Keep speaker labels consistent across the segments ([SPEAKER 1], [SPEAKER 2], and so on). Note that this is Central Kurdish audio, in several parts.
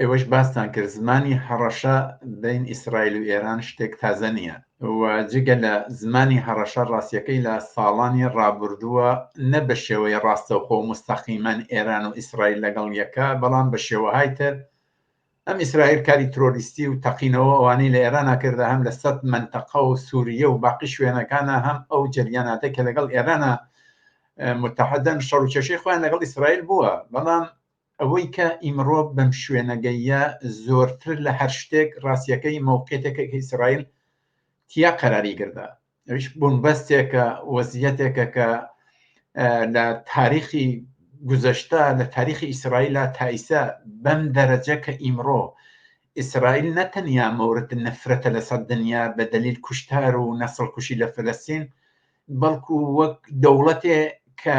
[SPEAKER 1] ئێوەش باستان کرد زمانی هەڕەشە بەین ئیسرائیل و ئێران شتێک تازە نییە و جگە لە زمانی هەڕەشە ڕاستیەکەی لە ساڵانی ڕابردووە نە بە شێوەی ڕاستەوخۆ مستەقیمەن ئێران و ئیسرائیل لەگەڵ یەکە بەڵام بە شێوەهای تر ئەم ئیسرائیل کاری ترۆریستی و تەقینەوە ئەوانی لە ئێرانە کردە هەم لە سەد منتەقە و سووریە و باقی شوێنەکانە هەم ئەو جریاناتە کە لەگەڵ ئێرانە متحدەن شەڕ و کێشەی خۆیان لەگەڵ ئیسرائیل بووە بەڵام ئەوەی کە ئیمڕۆ بەم شوێنە گەییە زۆرتر لە هەر شتێک ڕاستیەکەی مەوقێتێکە کە ئیسرائیل تیا قەراری گردا ئەویش بنبەستێکە وەزیەتێکە کە لە تاریخی گوزەشتا لە تاریخی ئیسرائیلە تایسا بەم دەرەجە کە ئیمڕۆ ئیسرائیل نەتەنیا مەورد نەفرەتە لەسەر دنیا بە دلیل کوشتار و نەسڵ کوشی لە فلستین بەڵکو وەک دەوڵەتێ کە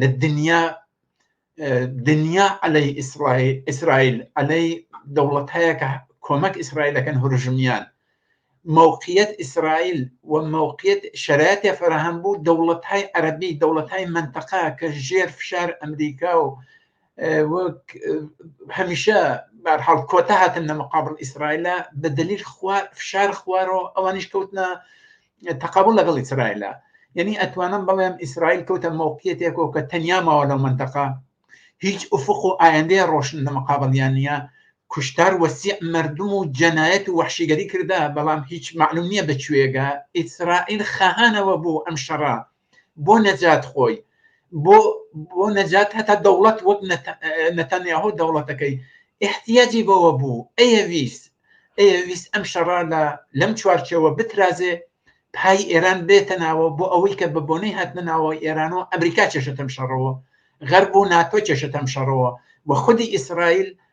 [SPEAKER 1] لە دنیا دنیا علي ئیسرائیل ئیسرائیل علي دەوڵەت هەیە کە کۆمەک ئیسرائیلەکەن هورژمیان موقعیت ئیسرائیل و موقعیت شرایطی فراهەم بوو دەوڵەت های عربی دەوڵەت های منطقە کە ژێر فشار ئەمریکا و وەک هەمیشە بارحاڵ کۆتا هاتن لە مقابل ئیسرائیلە بە دلیل فشار خوارەوە ئەوانیش کەوتنە تەقابل لەگەڵ ئیسرائیلە یعنی ئەتوانم بڵێم ئیسرائیل کەوتە مەوقیەتێکەوە کە تەنیا ماوە لەو منتەقا هیچ ئوفق و ئایندەیە ڕۆشن لە مقابلیان نییە کوشتار وەسی مردم و جەنایەت و وحشیگەری کردا بەڵام هیچ معلوم نییە بەکوێگە ئیسرائیل خەهانەوە بوو ئەم شەڕە بۆ نەجات خۆی بۆ بۆ نەجات هەتا دەوڵەت وەک نەتەنیاهۆ دەوڵەتەکەی احتیاجی بەوە بوو ئەیەویست ئەیەویست ئەم شەڕا لە لەم چوارچەوە بترازێ پای ئێران بێتە ناوە بۆ ئەوەی کە بە بۆنەی هاتنە ناوە ئێران و ئەمریکا چێشەتەم شەڕەوە غەرب و ناتۆ چێشەتەم شەڕەوە و خودی ئیسرائیل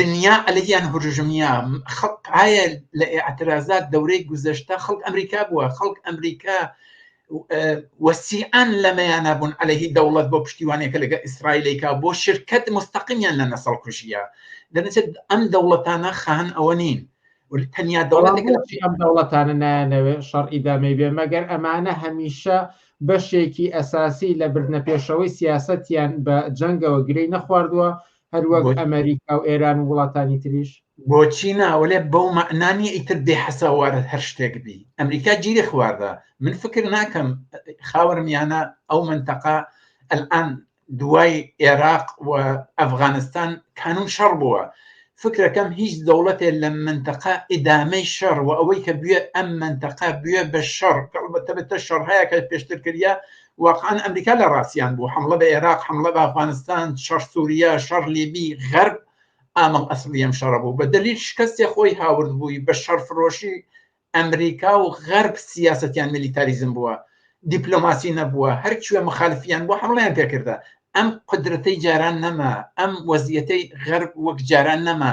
[SPEAKER 1] دنیا ئەلیان هورژمیا خەڵ ئایا لە ئاعتراضات دەورەی گوزەشتا خەڵک ئەمریکا بووە خەڵک ئەمریکا وەسیعان لەمەیانە بوون عليهەی دەوڵەت بۆ پشتیوانێکە لەگە ئیسرائیلێکا بۆ شرکت مستەقیمیان لە نەسەڵ کوژیە دەنچێت ئەم دەوڵەتانە خان ئەوە نین تەنیا دەوڵەتێک ئەم
[SPEAKER 2] دەوڵەتانە نایەنەوێ شەڕ ئیدامەی بێ مەگەر ئەمانە هەمیشە بەشێکی ئەساسی لە بردنە پێشەوەی سیاستیان بە جەنگەوە گرەی نەخواردووە هەروەک ئەمریکا و ئێران و وڵاتانی تریش بۆچی ناوەێ
[SPEAKER 1] بەو مەعنانی ئیتر بێ حەساوارە هەر شتێک بی ئەمریکا گیری خواردە من فکر ناکەم خاوەر میانە ئەو منتەقا ئەلان دوای عێراق و ئەفغانستان کانون شەڕ بووە فکرەکەم هیچ دەوڵەتێ لە منتەقا ئیدامەی شەڕ و ئەوەی کە بوێ ئەم منتەقا بوێ بە شەڕ بەتەبێتە شەڕهەیە کە پێشتر کردە واقعەن ئەمریکا لە ڕاستیان بوو حملە بە عێراق حملە بە ئەفغانستان شەڕ سووریا شەڕ لیبی غەرب ئامەڵ ئەسڵی ئەم شەڕە بوو بە دلیل شکستێ خۆی هاورد بووی بە شەڕ فرۆشی ئەمریکا و غەرب سیاستیان میلیتاریزم بووە دیپلۆماسی نەبووە هەرکوێ مخالفیان بۆ حمڵیان پێکردە ئەم قدرەتەی جاران نەما ئەم وەزیەتەی غەرب وەک جاران نەما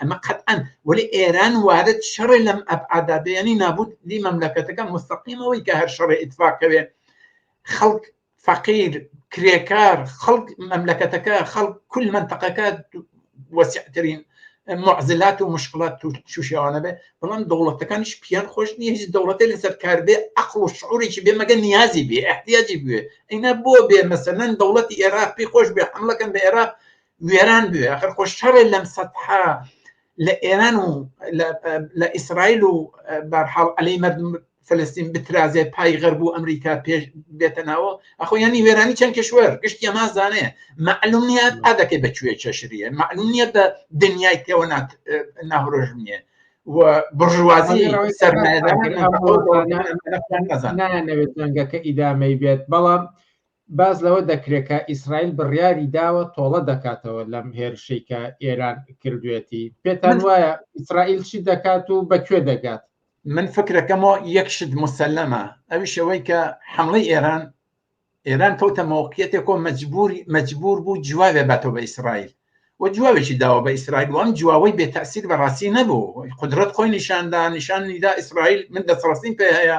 [SPEAKER 1] ئەمە قەتئەن وەلی ئێران وارد شەڕێ لەم ئەبعادادەیانی نابوت دی مەملەکەتەکە مستەقیمەوەی کە هەر شەڕێ ئیتفاقەوێ خەڵک فەقیر کرێکار خەڵک مەملەکەتەکە خەڵک کل منتەقەکە وەسیعترین معزلات و مشکلات تووشیاوانە بێ بەڵام دەوڵەتەکانیش پیان خۆش نییە هیچ دەوڵەتی لەسەر کار بێ ئەقل و شعورێکی بێ مەگە نیازی بێ احتیاجی بێ ئەینا بۆ بێ مەسەەن دەوڵەتی ئێراق پێ خۆش بێ حملەکەن بە ئێراق وێران بوێ ئەخر خۆ شەڕێ لەم سەتحا لە ئێران و لە ئیسرائیل و بارحاڵ ئەلەی مردم فلستین بترازێ پای غەرب و ئەمریکا پێش بێتە ناوە ئەخۆ ینی وێرانی چەند کەشوەر گشتی ئەما زانێ معلوم نیە تا دەکەی بەکوێ چەشریە معلوم نیە بە دنیای تێوە ناهرۆژ نیە بڕژوازی سەرمایەدانەوێت
[SPEAKER 2] جەنگەکە ئیدامەی بێت بەڵام باس لەوە دەکرێت کە ئیسرائیل بڕیاری داوە تۆڵە دەکاتەوە لەم هێرشەی کە ئێران کردوێتی پێتان وایە ئیسرائیل چی دەکات و بە کوێ دەگات من فکرەکەمەوە
[SPEAKER 1] یەک شت مسلەمە ئەوی شەوەی کە حمڵی ئێران ئێران کەوتە مەوقیەتێکۆ مەجبوری مەجبور بوو جوابێ باتەوە بە ئیسرائیل و جوابێکی داوە بە ئیسرائیل وام جوواوەی بێ تاسیر بەڕاستی نەبوو قدرەت خۆی نیشاندا نیشانیدا ئیسرائیل من دەسڕاستیم پێ هەیە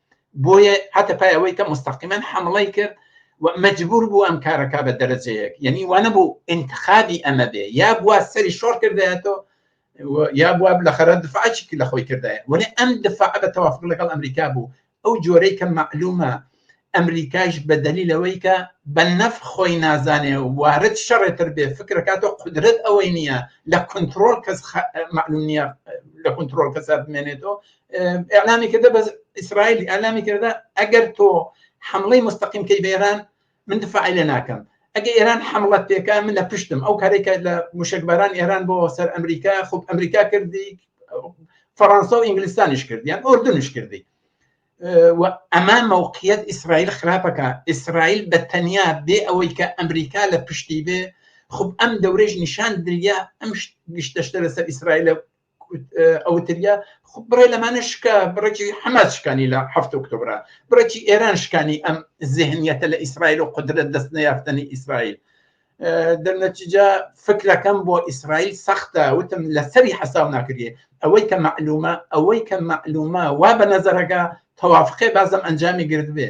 [SPEAKER 1] بۆیە هاتە پای ئەوەی کە مستەقیمەن حمڵی کرد مەجبور بوو ئەم کارەکە بە دەرەجەیەک یعنی وانە بوو انتخابی ئەمە بێ یا بووە سەری شۆڕ کردایەتەوە یا بووە لە خەرە دفاعکی لە خۆی کردایە وەێ ئەم دفاع بە تەوافق لەگەڵ ئەمریکا بوو ئەو جۆرەی کە معلومە ئەمریکایش بەدەلی لەوەی کە بە نەف خۆی نازانێ وارد شەڕێتر بێ فکرەکاتۆ قدرت ئەوەی نییە لە کنترۆل کەس معلوم نییە لە کنترۆل کەسە بمێنێتەوە ئەلامی کردە بە ئیسرائیلی ئەلامی کردە ئەگەر تۆ حملەی مستەقیم کەی بێران من دفاعی لێ ناکەم ئەگە ئێران حملت پێکا من لە پشتم ئەو کارێکە لە موشکباران ئێران بۆ سەر ئەمریکا خوب ئەمریکا کردی فەڕەنسا و ئینگلیستانیش کردیان ئۆردنش کردی ئەمە مەوقیت ئیسرائیل خراپەکە ئیسرائیل بە تەنیا بێ ئەوەی کە ئەمریکا لە پشتی بێ خب ئەم دەورێژ نیشان دریا ئەم گشتەشتە لەسەر ئیسرائیل ئەوتریا خب بڕێ لەمانە شکا بڕێکی حەماس شکانی لە هەفت ئۆکتۆبرا بڕێکی ئێران شکانی ئەم زهنیەتە لە ئیسرائیل و قدرت دەست نەیافتنی ئیسرائیل دەرنەتیجا فکرەکەم بۆ ئیسرائیل سەختە وتم لەسەری حەساو ناکرێ ئەوەی کە معلومە ئەوەی کە معلومە وا بە نەزەرەکە تەوافقێ بازم ئەنجامی گرت بێ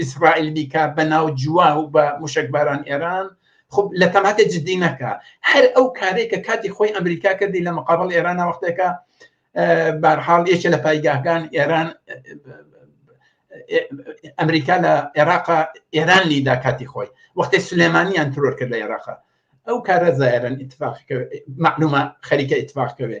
[SPEAKER 1] ئیسرائیل بیکا بە ناو جووا و بە موشەکباران ئێران خب لە تەماتە جددی نەکە هەر ئەو کارێک کە کاتی خۆی ئەمریکا کردی لە مقابل ئێرانە وەختێکە بارحاڵ یەکێ لە پایگاهگان ئێران ئەمریکا لە عێراق ئێران لیدا کاتی خۆی وەختی سلێمانیان ترۆر کرد لە عێراق ئەو کارە زایرن اتفاق معلومە خەریکە اتفاقکەوێ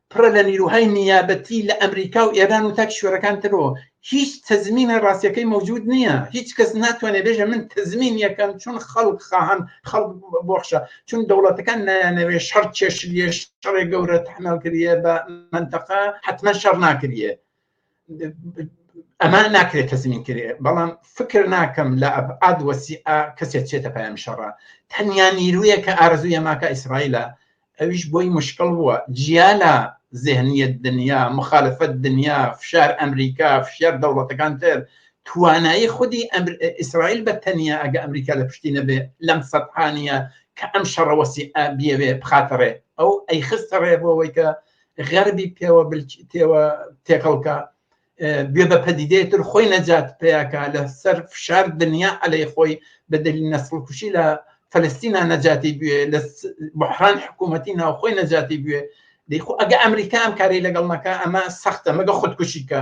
[SPEAKER 1] پڕە لە نیروهای نیابەتی لە ئەمریکا و ئێران و تا کیشوەرەکان ترەوە هیچ تەزمینە ڕاستیەکەی مەوجود نییە هیچ کەس ناتوانێت بێژە من تەزمین یەکەم چون خەڵک خاهن خەڵک بۆخشە چون دەوڵەتەکان نایانەوێ شەڕ چێشت لێش شەڕێک گەورە تحمل کردە بە منتەقە حتمما شەڕ ناکرێت ئەمان ناکرێت تەزمین کرێ بەڵام فکر ناکەم لە ئەبعاد وەسی کەسێک چێتە پایان شەڕە تەنیا نیرویە کە ئارزویە ماکە ئیسرائیلە ئەویش بۆی مشکل بووە جیا لە زێنیت دنیا مخالفەت دنیا فشار ئەمریکا فشار دەوڵەتەکان تر توانایی خودی ئیسرائیل بە تەنیا ئەگە ئەمریکا لە پشتی نەبێ لەم سەدحانە کە ئەم شەڕەوەسی ئابیەوێ بخاتەڕێ ئەو ئەی خستەڕێ بۆەوەی کە غەربی پێوە تێوە تێکەڵکە گوێ بە پەدیدەیەتر خۆی نەجات پیاکە لە سەر فشار دنیا ئەلەی خۆی بەدەلی نەسڵکوشی لە فلستینا نەجاتی بوێ لە بحران حکوومەتی ناوخۆی نەجاتی بوێ دەیخۆ ئەگە ئەمریکا ئەم کاری لەگەڵ نەکە ئەمە سەختە مەگە خودکوشیکە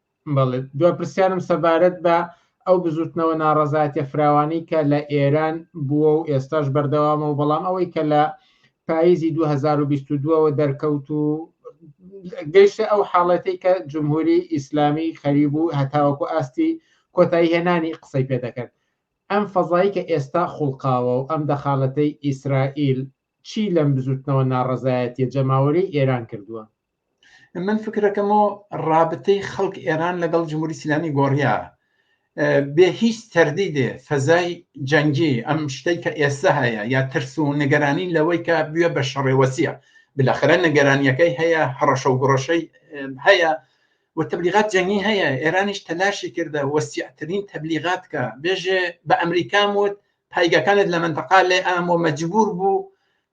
[SPEAKER 1] بەڵێ
[SPEAKER 2] دو پرسیارم سەبارەت بە ئەو بزوتنەوە ناڕزایەتە فراوانی کە لە ئێران بووە و ئێستاش بەردەوامە و بەڵام ئەوەی کە لە پاییزی 2022ەوە دەرکەوت و گەیشتە ئەو حاڵەتی کە جمهوری ئیسلامی خەریب و هەتاوەکو ئاستی کۆتایی هێنانی قسەی پێ دەکرد ئەم فەزایی کە ئێستا خوڵقاوە و ئەم دەخالەتەی ئیسرائیل چی لەم بزوتنەوە ناڕزایەتە جەماوەری ئێران کردووە من
[SPEAKER 1] فکرەکەمەوە ڕابتەی خەڵک ئێران لەگەڵ جمهوری سیلامی گۆڕیا بێ هیچ تەردی دێ فەزای جەنگی ئەم شتەی کە ئێستا هەیە یا ترس و نگەرانی لەوەی کە بوێ بە شەڕێوەسیە بلەخرە نگەرانیەکەی هەیە هەڕەشە و گڕەشەی هەیە و تبلیغات جەنگی هەیە ئێرانیش تەلاشی کردە وەسیعترین تبلیغات کە بێژێ بە ئەمریکام وت پایگەکانت لە منتەقا لێ ئامۆ مەجبور بوو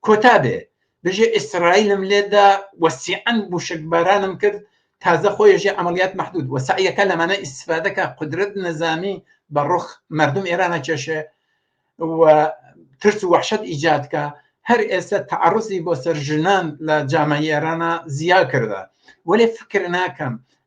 [SPEAKER 1] کۆتا بێ دژی ئیسرائیلم لێدا و سیعەن موشکبارانم کرد تازە خۆی ژێ عملیات محدود و سعیەکە لەمانە ئیسفادەکە قدرت نەزامی بە ڕوخ مردم ئێرانە کێشێ و ترس و وحشت ئیجاد کە هەر ئێستا تعرضی بۆ سەر ژنان لە جامعی ئێرانە زیا کردە وەێ فکر ناکەم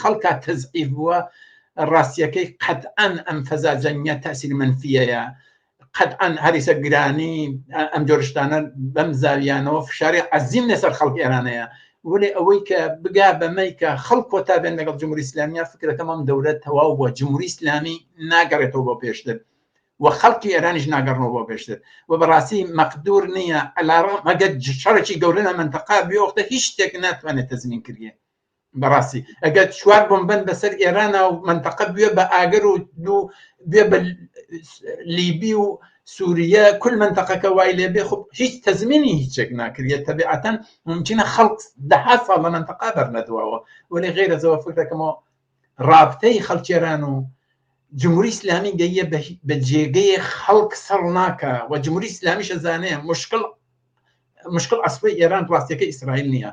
[SPEAKER 1] خەڵکا تەزعیف بووە ڕاستیەکەی قەتعەن ئەم فەزا جەنگە تاسیر منفیەیە قەتعەن هەریسە گرانی ئەم جۆرشتانە بەم زاویانەوە فشاری عزیم لەسەر خەڵک ئێرانەیە وەێ ئەوەی کە بگا بەمەی کە خەڵ کۆتا بێن لەگەڵ جمهوری اسلامیە فکرەکەمەم دەورە تەواو بووە جمهوری اسلامی ناگەڕێتەوە بۆ پێشتر و خەڵکی ئێرانیش ناگەڕەوە بۆ پێشتر و بەڕاستی مەقدور نییە ئەلاڕ مەگە شەڕێکی گەورە لە منتەقا بێوەختە هیچ شتێک ناتوانێت تەزمین کردێت بەڕاستی ئەگەر چوار بمبەن بەسەر ئێرانە و منتەقە بێ بە ئاگەر و دوو بێ بە لیبی و سووریە کل منتەقەکە وای لێ بێ خب هیچ تەزمینی هیچێک ناکرێت تەبیعەتەن ممکنە خەڵک دەها ساڵ لە منتەقا بەرنەدواوە وەێ غێرە زەوە فکر دەکەمەوە رابتەی خەڵکێران و جمهوری ئسلامی گەیە بە جێگەیە خەڵک سەڕ ناکە و جمهوری ئسلامیشە زانەیە مشکل مشکل ئەسڵی ئێران ڕاستەکە ئیسرائیل نییە